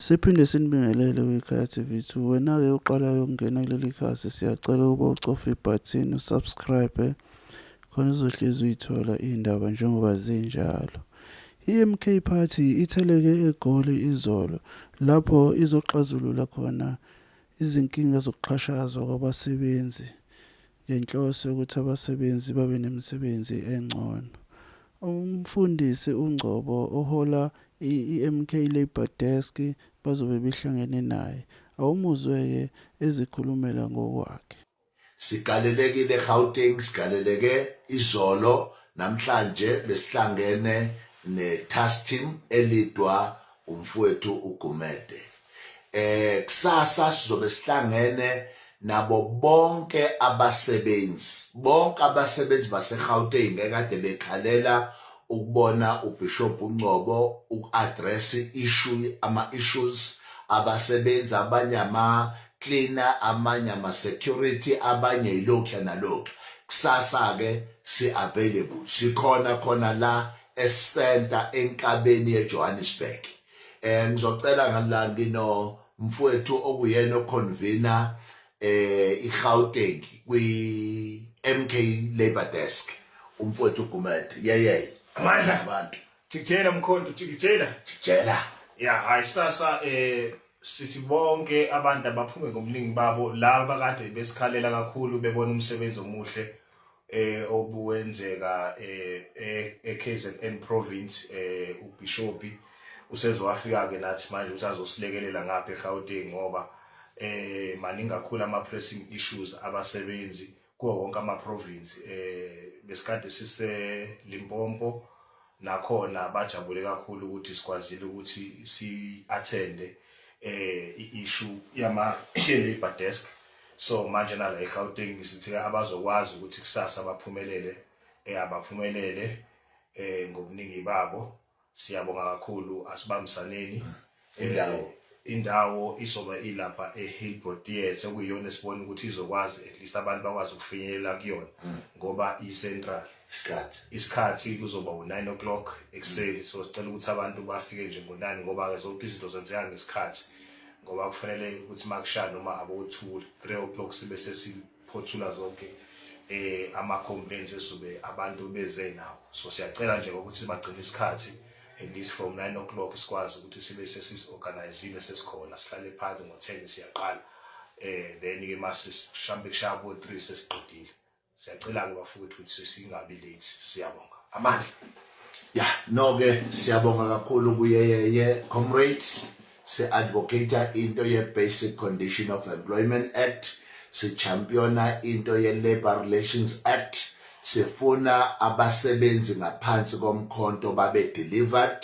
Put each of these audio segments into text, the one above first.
Siphinde sinibingelele kwikhaya TV2 wena-ke uqalayo ukungena kuleli khasi siyacela ukuba ucofe ibhathini usubscribe khona uzohlezi uyithola iy'ndaba njengoba zinjalo i-MK Party itheleke eGoli izolo lapho izoxazulula khona izinkinga zokuxhashazwa kwabasebenzi ngenhloso yokuthi abasebenzi babe nemisebenzi engcono. UMfundisi uNgcobo ohola i-MK Labour Desk bazobe behlangene naye. Awumuzwe-ke ezikhulumela ngokwakhe. Sigalelekile eGauteng, sigaleleke izolo, namhlanje besihlangene neTastim eLidwa umfowethu uGumede eh kusasa sizobe sihlangene nabo bonke abasebenzi bonke abasebenzi baseGauteng ekade bekhalela ukubona uBishop uNcobo uku-address issue ama issues abasebenzi abanye ama cleaner amanye ama security abanye ilokhu nalokhu kusasa ke si available sikhona khona la esenta enkabeni yeJohannesburg eh ngizocela ngala ngino mfowethu okuyena oconvener eh iGauteng kwi MK Labor Desk umfowethu Gumede yeyeye amandla abantu jikijela mkhonto jikijela jikijela ya hayi sasa eh sithi bonke abantu abaphume ngomlingi babo laba kade besikhalela kakhulu bebona umsebenzi omuhle eh obuwenzeka eh, eh eKZN province eh ubishopi usezowafika ke nathi manje usazosilekelela ngapha eGauteng ngoba eh maningi kakhulu ama pressing issues abasebenzi kuwo wonke ama province eh besikade sise Limpopo nakhona bajabule kakhulu ukuthi sikwazile ukuthi si-athende eh i-issue yama labor desk so manje nala eGauteng sithi abazokwazi ukuthi kusasa baphumelele eh abaphumelele eh ngobuningi babo siyabonga kakhulu asibambisaneni indawo indawo izoba ilapha eHillbrow Theatre okuyiyona esibona ukuthi izokwazi at least abantu bakwazi ukufinyelela kuyona mm. ngoba i-central isikhathi isikhathi kuzoba u-9 o'clock ekuseni so sicela ukuthi abantu bafike nje ngo-9 ngoba-ke zonke izinto zenzeka ngesikhathi ngoba kufanele ukuthi makushaya noma abothule 3 o'clock sibe phothula zonke eh ama complaints esube abantu beze nawo so siyacela nje ukuthi bagcine isikhathi at least from 9 o'clock sikwazi ukuthi sibe sesis organizile sesikhona sihlale phansi ngo 10 siyaqala eh then ke mase shambe kushabo 3 sesiqedile siyacela ke bafowethu ukuthi singabi late siyabonga amandla ya no ke siyabonga kakhulu kuyeyeye comrades si-advocata into ye-basic condition of employment act sichampiona into ye-labour relations act sifuna abasebenzi ngaphansi komkhonto babe delivered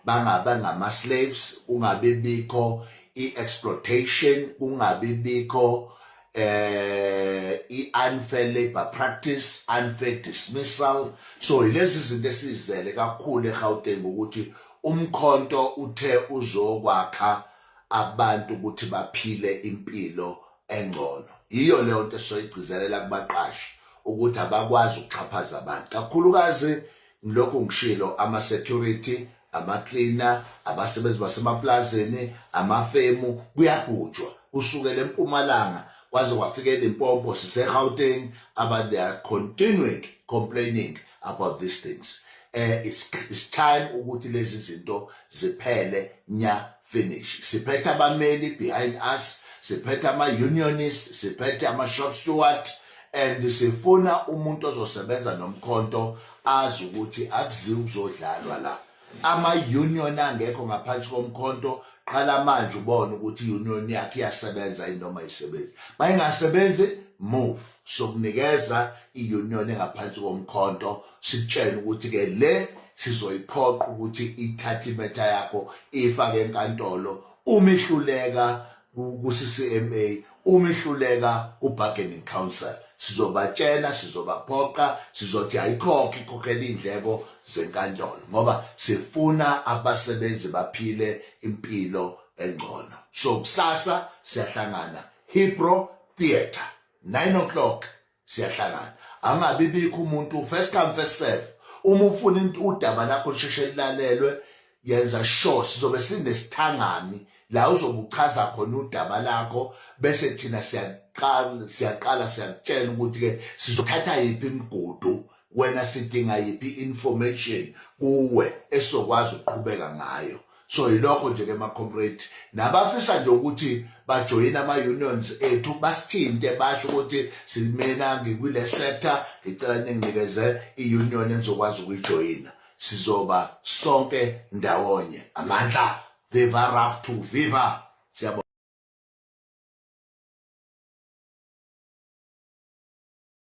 bangabe ngama-slaves kungabibikho i-exploitation kungabibikho eh i-unfair labor practice unfair dismissal so yilezi zinto esizele kakhulu eGauteng ukuthi umkhonto uthe uzokwakha abantu ukuthi baphile impilo engcono yiyo leyo nto esoyigcizelela kubaqashi ukuthi abakwazi ukuxhaphaza abantu kakhulukazi Ngilokhu ngishilo ama security, ama cleaner, abasebenzi basemaplazini, amafemu kuyagujwa kusukela eMpumalanga kwaze kwafika eLimpopo siseGauteng aba they are continuing complaining about these things. Eh it's, it's time ukuthi lezi zinto ziphele nya finish siphethe abameli behind us siphethe ama-unionist siphethe ama-shop steward and sifuna umuntu ozosebenza nomkhonto azi ukuthi akuziwa ukuzodlalwa la ama-union angekho ngaphansi komkhonto qala manje ubone ukuthi i-union yakhe iyasebenza inoma isebenzi uma ingasebenzi move sokunikeza i-union engaphansi komkhonto sikutshela ukuthi ke le sizoyiphoqa ukuthi ithathe imetha yakho ifake enkantolo uma ihluleka ku-CCMA uma ihluleka ku-bargaining council sizobatshela sizobaphoqa sizothi ayikhokhe ikhokhela iy'ndleko zenkantolo ngoba sifuna abasebenzi baphile impilo engcono so kusasa siyahlangana hipro theatre 9 o'clock siyahlangana angabi bikho umuntu first come first serve uma ufuna udaba lakho lisheshe lilalelwe yenza sure sizobe sinesithangami la uzobuchaza khona udaba lakho bese thina siyaqala siyaqala siyakutshela ukuthi ke sizothatha yiphi imigudu wena sidinga yiphi information kuwe esokwazi ukuqhubeka ngayo so yilokho nje ke ma comrade nabafisa nje ukuthi bajoyine ama unions ethu basithinte basho ukuthi simena ngikule sector ngicela ninginikeze i union engizokwazi ukuyijoyina sizoba sonke ndawonye amandla viva rap to viva siyabona